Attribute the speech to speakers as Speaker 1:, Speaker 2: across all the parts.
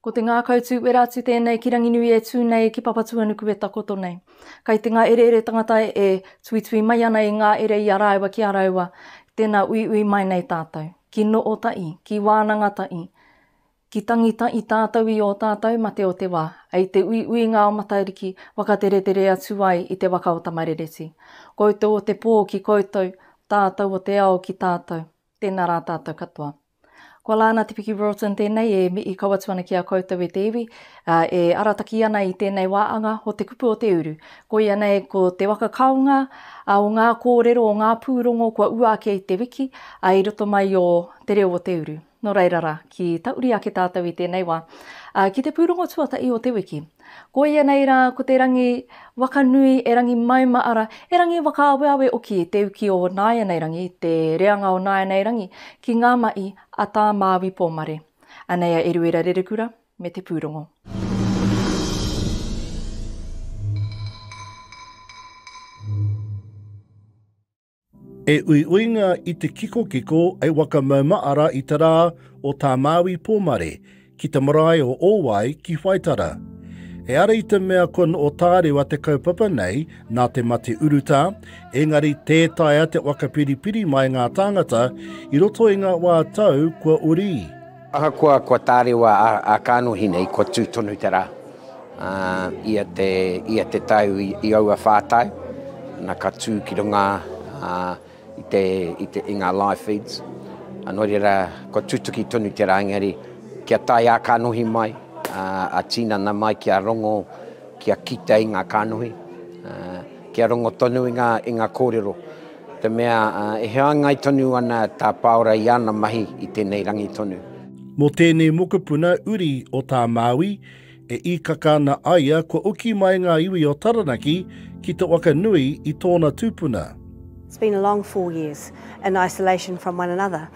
Speaker 1: Ko te ngākau tū wera atu tēnei ki Ranginui e tū nei ki Papatuanuku e takoto nei. Kai te ngā ereere tangata e tuitui mai ana i ngā ere i a rāua ki a rāua, tēnā uiui mai nei tātou. Ki Nootaʻi, ki Wānangataʻi, Ki tangita i tātou i ō tātou mate o te wā, hei te uiuinga o Matariki whakateretere atu ai i te waka o Tamarereti. Koutou o te pō ki koutou, tātou o te ao ki tātou. Tēnā rā tātou katoa. Ko Lana Te Piki Roulton tēnei e mihi kau atu ana ki a koutou e te iwi, ā, e arataki ana i tēnei wā anga o Te Kupu o Te Uru. Koia nei ko te waka kaonga o ngā kōrero o ngā pūrongo kua ua ake i te wiki, ā, i roto mai i ō Te Reo o Te Uru. Nō reira rā, ki ta uri ake tātou i tēnei wā, ā, ki te pūrongo tuatahi o te wiki. Koia nei rā, ko te rangi waka nui, e rangi mauma, arā, e rangi whakaaweawe hoki te uki o nāianei rangi, te reanga o nāianei rangi ki ngā mahi a Tā Māui Pōmare. Anei a Eruera Rerekura me te pūrongo. E uiuinga i te kikokiko e Wakamaumaara i te rā o Tā Māui Pōmare ki te marae o Ōwai ki Whaitara. E ara i te mea kua noo tārewa te kaupapa nei nā te mate urutā, engari tē taea te waka piripiri mai ngā tāngata i roto i ngā wā tau kua uri. Ahakoa kua tārewa a Kānohinei, kua tū tonu te rā. Ia te tau i aua whā tau, na ka tū ki runga i ngā live feeds. Nō reira, kua tutuki tonu te rā, engari kia tae a Kānohi mai, a Tīnana mai kia rongo, kia kite i ngā kānohi, kia rongo tonu i ngā kōrero. Te mea, e hāngai tonu ana tā Pāora i ana mahi i tēnei rangi tonu. Mō tēnei mokopuna uri o tā Māui, e īkaka ana a ia kua oki mai ngā iwi o Taranaki ki te waka nui i tōna tūpuna. It's been a long four years in isolation from one another.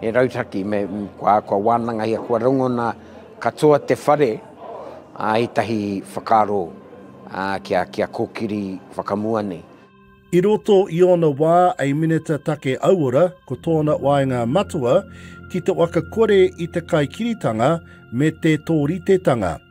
Speaker 1: He rautaki me kua, kua wānangahia, kua rongona katoa te whare ā ētahi whakaaro ā kia, kia kōkiri whakamua nei. I roto i ōna wā a Minita Take Auora ko tōna waenga matua ki te waka kore i te kaikiritanga me te tōritetanga.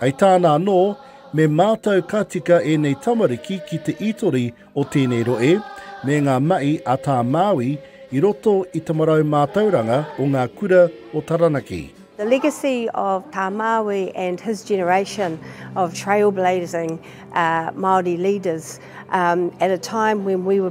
Speaker 1: Hei tāna anō, me mātau ka tika ēnei tamariki ki te itori o tēnei rohe me ngā mahi a tā Māui i roto i te marau mātauranga o ngā kura o Taranaki. The legacy of Tā Māui and his generation of trailblazing Māori leaders at a time when we were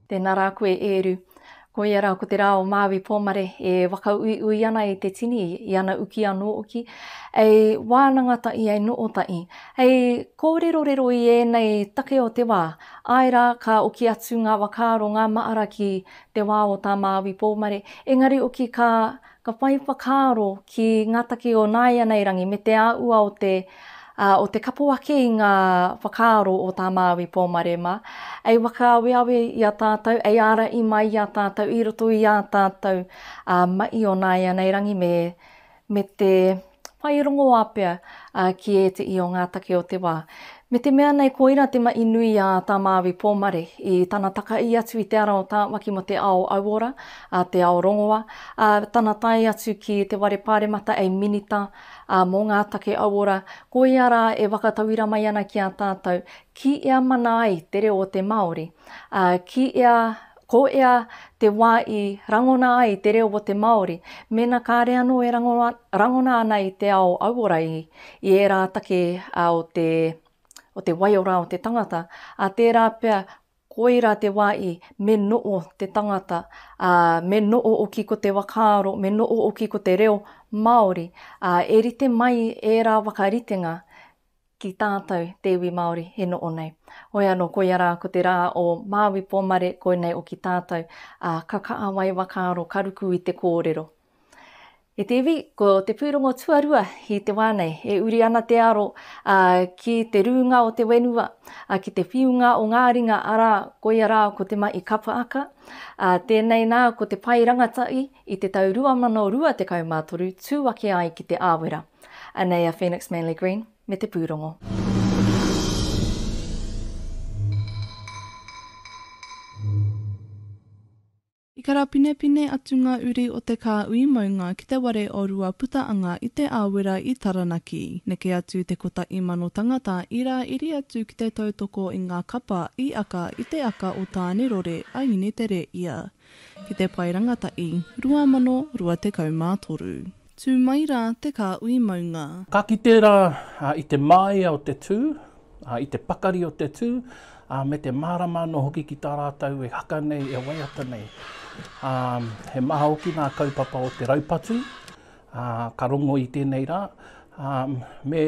Speaker 1: Tēnā rā koe Ēru. Koia rā ko te rā o Māui Pōmare e whakauiui ana i te tini, i ana uki anō hoki, hei wānanga tahi, hei noho tahi, hei kōrerorero i ēnei take o te wā, āe rā, ka oki atu ngā whakaaro, ngā mahara ki te wā o tā Māui Pōmare, engari hoki ka Ka whai whakaaro ki ngā take o nāianei rangi me te āhua o te o te kapo ake i ngā whakaaro o tā Māui Pōmarema, ei whakaaweawe i a tātou, ei ārahi mai i a tātou i roto i ā tātou mahi o nāianei rangi me te. whai rongoā pea ki ēteʻi o ngā take o te wā. Me te mea nei koira te maʻi nui a Tā Māui Pōmare i tana takaī atu i te ara o Tāwaki mō te ao auora, te ao rongoa, ā, tana tae atu ki te ware pāremata hei Minita mō ngā Take Auora, koia rā e whakatauira mai ana ki a tātou, ki ea mana ai te reo o te Māori, ā, ki ea Ko ea te wa i rangona ai te reo o te Maori, mena kare ano e rangona ana i te ao auora i i era take o te o te waiora o te tangata, a tera pea koira te wa i me noo te tangata, a me noo-oki ko te wakaaro, me noo-oki ko te reo Maori, a e rite mai era wakaritenga ki tātou te iwi Māori e noho nei. Hoi anō koia rā ko te rā o Māui Pōmare koinei o ki tātou, ā, ka kāwai whakaaro ka ruku i te kōrero. E te iwi, ko te pūrongo tuarua i te wā nei, e uri ana te aro ā, ki te rūnga o te whenua, ā, ki te whiunga o ngā ringa, arā, koia rā ko te mahi kapaaka, ā, tēnei nā ko te pae rangatahi i te tau 2023 tū ake ai ki Te Āwera. Anei a Phoenix Manly Green me te pūrongo. I karapinepine atu ngā uri o te kāui maunga ki te ware o Ruaputaanga i Te Āwera i Taranaki. Neke atu te kota imano tangata i rā iri atu ki te tautoko i ngā kapa i aka i te aka o Tānerore a Inetereia. ki te Pae Rangatahi, 2023. Tū mai rā te kāhui maunga. Ka kite rā i te māia o te tū, i te pakari o te tū, ā, me te mārama anō hoki ki tā rātou e haka nei, e waiata nei. Ā, he maha hoki ngā kaupapa o te raupatu, Ā, ka rongo i tēnei rā, ā, me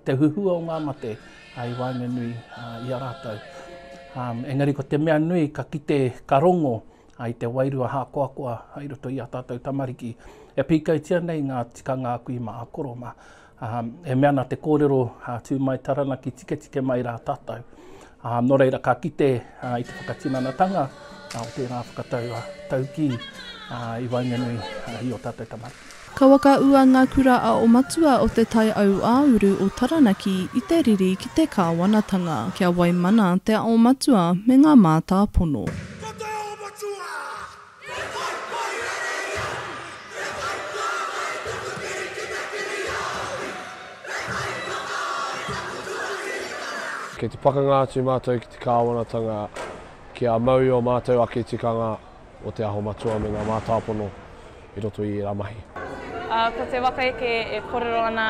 Speaker 1: te huhua o ngā mate, ā, i waenganui, ā, i a rātou. Ā, engari ko te mea nui, ka kite, ka rongo, ā, i te wairua hākoakoa i roto i ā tātou tamariki, e pīkautia nei ngā tikanga aku i mā a Koroma. Ā, e mea ana te kōrero, ā, tū mai Taranaki, tiketike mai rā tātou. Ā, nō reira ka kite ā, i te whakatinanatanga ā, o tērā whakatau ā, taukī ā, i waenganui ā, i ō tātou tamariki. Ka whakaūa ngā kura a o Matua o Te Tai Aua-uru o Taranaki i te riri ki te kāwanatanga, kia waimana te ao matua me ngā mātāpono. Ko te ao matua! Kei te pakanga atu mātou ki te kāwanatanga kia mau i ō mātou ake tikanga o Te Aho Matua me ngā mātāpono i roto i ērā mahi. Ko te waka eke e kōrero ana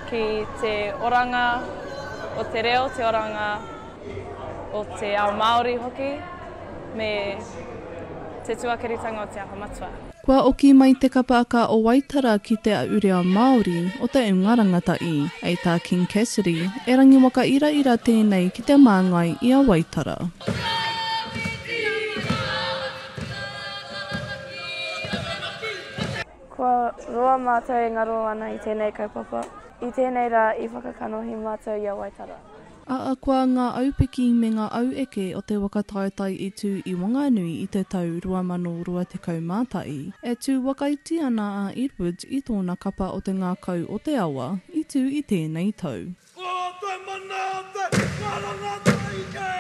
Speaker 1: ki te oranga o te reo, te oranga. o te ao Māori hoki, me te tuakiritanga o Te Aha Matua. Kua oki mai te kapa a Ka o Waitara ki Te Aʻu Reo Māori o Te Unga Rangatahi, hei tā King Cassidy, e rangiwaka iraira tēnei ki te māngai i a Waitara. Kua roa mātou e ngaro ana i tēnei kaupapa, i tēnei rā i whakakanohi mātou i a Waitara. Ahakoa ngā aupiki me ngā aueke o te waka taetae i tū i Wanganui i te tau 2021, e tū wakaiti ana a Edwards i tōna kapa o te ngākau o te awa i tū i tēnei tau. Ko te mana o te karanga taike.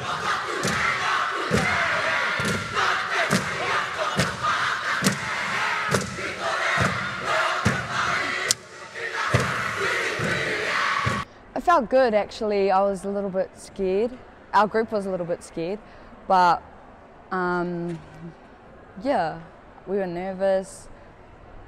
Speaker 1: Ka taku nei ngā pūtaiao nei, nā te mahi a tōna wāhanga nei, he titore nō te mahi i tukuna, whiriwhiria. I felt good actually, I was a little bit scared, our group was a little bit scared but um yeah we were nervous,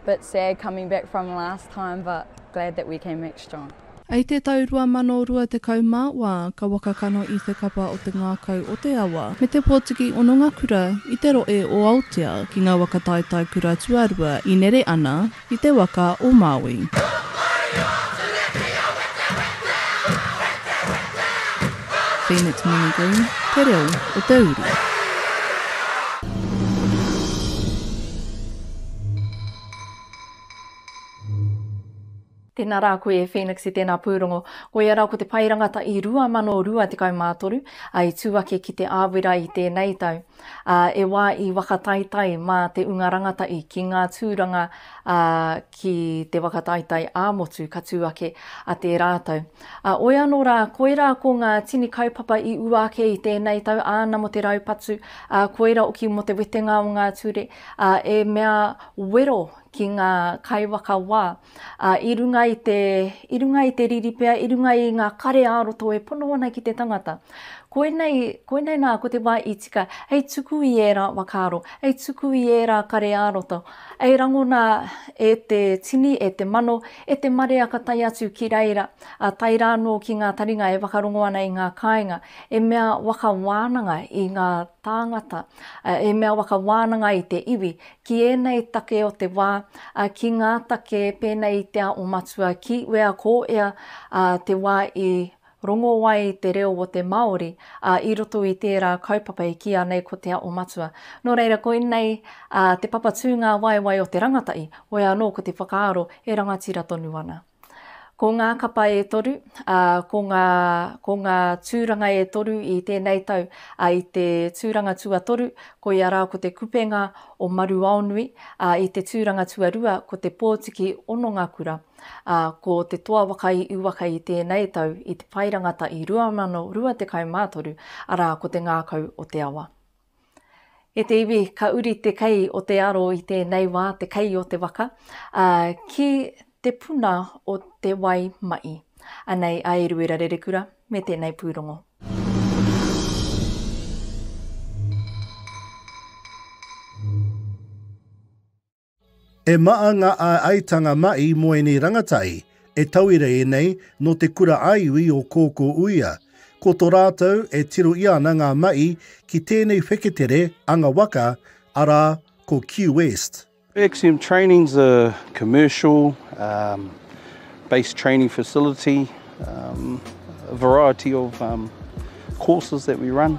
Speaker 1: bit sad coming back from last time but glad that we came back strong. I te tau 2020 mā wā ka waka kano i te kapa o te ngākau o te awa me te pōtiki hononga kura i te rohe o Aotea ki ngā waka taetae kura tuarua i nere ana, I te waka o Maui. Phoenix Muni Green, Te Reo o te Uru. Tēnā rā koe e Phoenix i tēnā pūrongo. Koia rā ko te pae rangata i 2023, ā, i tū ake ki Te Āwera i tēnei tau. ā, e wā i whakataetae mā te unga rangatahi ki ngā tūranga, ā, ki te whakataetae ā-motu ka tū ake a te rātou. Ā, oi anō rā, koirā ko ngā tini kaupapa i ua ake i tēnei tau, āna mō te raupatu, ā, koirā hoki mō te wetenga o ngā ture, ā, e mea wero ki ngā kaiwhakawā. ā, i runga i te, i runga i te riri pea, i runga i ngā kare ā-roto e pono ana ki te tangata. Koinei, koinei nā, ko te wā i tika, hei tuku i ērā whakaaro, hei tuku i ērā kare ā-roto, hei rangona e te tini, e te mano, e te marea ka tae atu ki reira, ā, tae rā anō ki ngā taringa e whakarongo ana i ngā kāinga, e mea waka wānanga i ngā tāngata, ā, e mea waka wānanga i te iwi, ki ēnei take o te wā, ā, ki ngā take pēnei i te ao matua, ki wea ko ea, ā, te wā i rongo ai te reo o te Māori, ā, i roto i tērā kaupapa i kīa nei ko te ao matua. Nō reira, koinei, ā, te papa tūngāwaewae o te rangatahi, wea anō ko te whakaaro e rangatira tonu ana. Ko ngā kapa e toru, ā, ko ngā, ko ngā tūranga e toru i tēnei tau, ā, i te tūranga tuatoru, koia rā ko te kupenga o Maruaonui, ā, i te tūranga tuarua ko te pōtiki Onongakura, ā, ko te toa waka i uwaka i tēnei tau i te pae rangata i 2023, arā, ko te ngākau o te awa. E te iwi, ka uri te kei o te aro i tēnei wā, te kei o te waka, ā, ki te puna o te wai maʻi. Anei a Eruera Rerekura me tēnei pūrongo. E maa nga aeaetanga mai mo enei rangatai e tauira enei no te kura aiui o Koko Uia, ko to ratou e tiro ia ana nga mai ki tenei wheketere anga waka, ara ko Q-West. Axiom Training is a commercial um based training facility um a variety of um courses that we run.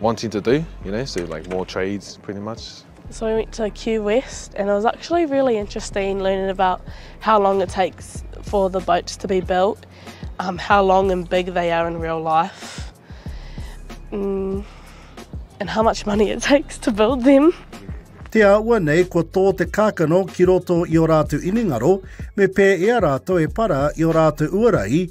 Speaker 1: wanting to do, you know, so like more trades pretty much. So we went to Q West and it was actually really interesting learning about how long it takes for the boats to be built, um, how long and big they are in real life, mm, and how much money it takes to build them. Te aua nei ko tō te kākano ki roto i o rātou inengaro, me pē e a rātou e para i o rātou uarai,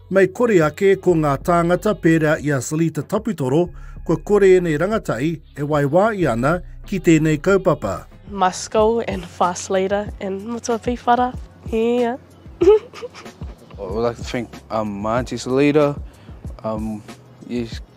Speaker 1: Mei kore ake ko ngā tāngata pērā i a Salita Taputoro, kua kore ēnei rangatahi e waiwāia ana ki tēnei kaupapa. My school and fast leader and matua pīwhara, yeah. I would like to thank um, my auntie Salita, um, yes,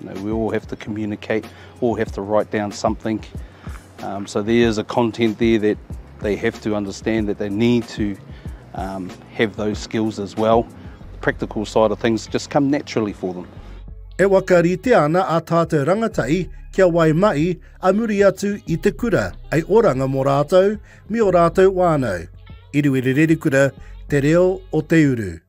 Speaker 1: You know, we all have to communicate, all have to write down something. Um, so there is a content there that they have to understand that they need to um, have those skills as well. The practical side of things just come naturally for them. E wakarite ana a tātou rangatahi kia wai mai a muri atu i te kura, ai oranga mō rātou me o rātou wānau. Iruiri Rerikura, Te Reo o Te Uru.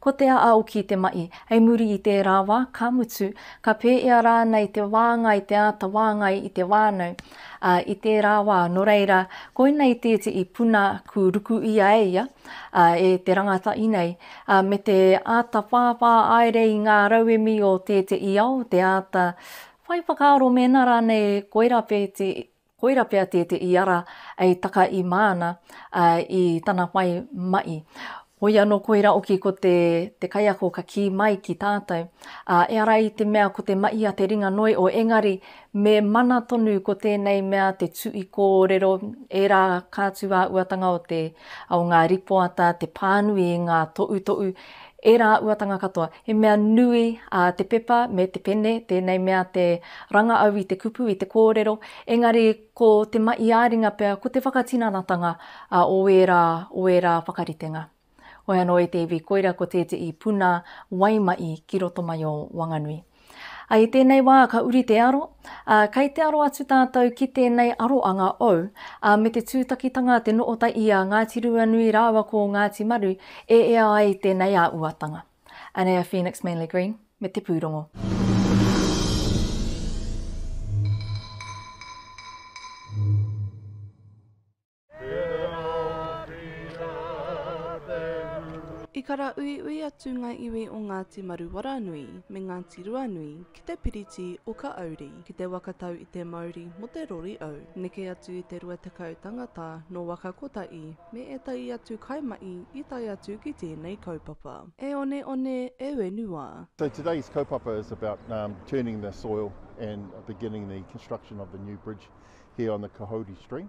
Speaker 1: Ko Te Aaoki te mahi. Hei muri i tērā wā, ka mutu, ka pēhea rānei te wāngai, te āta wāngai i te whānau, ā, i tērā wā, nō reira, koinei tētehi puna kū ruku ia e ia, ā, e te rangatahi nei, ā, me te āta whāwhā haere i ngā rauemi o tētehi ao, te āta whai whakaaro mēnā rānei koirā pētehi Koira pea te te iara ei taka i māna i tana whai maʻi. Hoi anō koira oki ko te te kaiako ka kī mai ki tātou, ā, e ara i te mea ko te maʻi a te ringa noi o engari me mana tonu ko tēnei mea te tuʻi kōrero ērā kātūāuatanga o te o ngā ripoata te pānui i ngā toʻutoʻu Ērā uatanga katoa. He mea nui a te pepa me te pene tēnei mea te ranga au i te kupu, i te kōrero, engari ko te mahi ā-ringa pea ko te whakatinanatanga o ērā, o ērā whakaritenga. Hoi anō e te iwi koira ko tētehi puna waimahi ki roto mai o Wanganui. Ā, i tēnei wā ka uri te aro, ā, kei te aro atu tātou ki tēnei aroanga ou, ā, me te tūtakitanga te noota i a Ngāti Ruanui rāua ko Ngāti Maru e ea ai tēnei āuatanga. Anei a Phoenix Manly Green me te pūrongo. I karauiui atu ngā iwi o Ngāti Maruwaranui me Ngāti Ruanui ki te piriti o Kaauri, ki te waka tau i te mauri mo te rori au. Neke atu i te rua tekau tangata no waka kotahi me etahi atu kaimahi i tae atu ki tēnei kaupapa. E one one, e wenua. So today's kaupapa is about turning the soil and beginning the construction of the new bridge here on the Kahouri stream.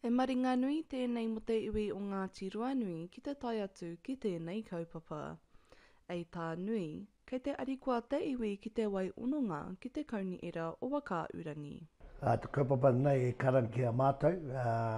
Speaker 1: He maringa nui tēnei mō te iwi o Ngāti Ruanui ki te tae atu ki tēnei kaupapa. Ei tā Nui, kei te arikoa te iwi ki te wai ononga ki te Kaunihera o Whakaahurangi. Te kaupapa nei e karangia mātou.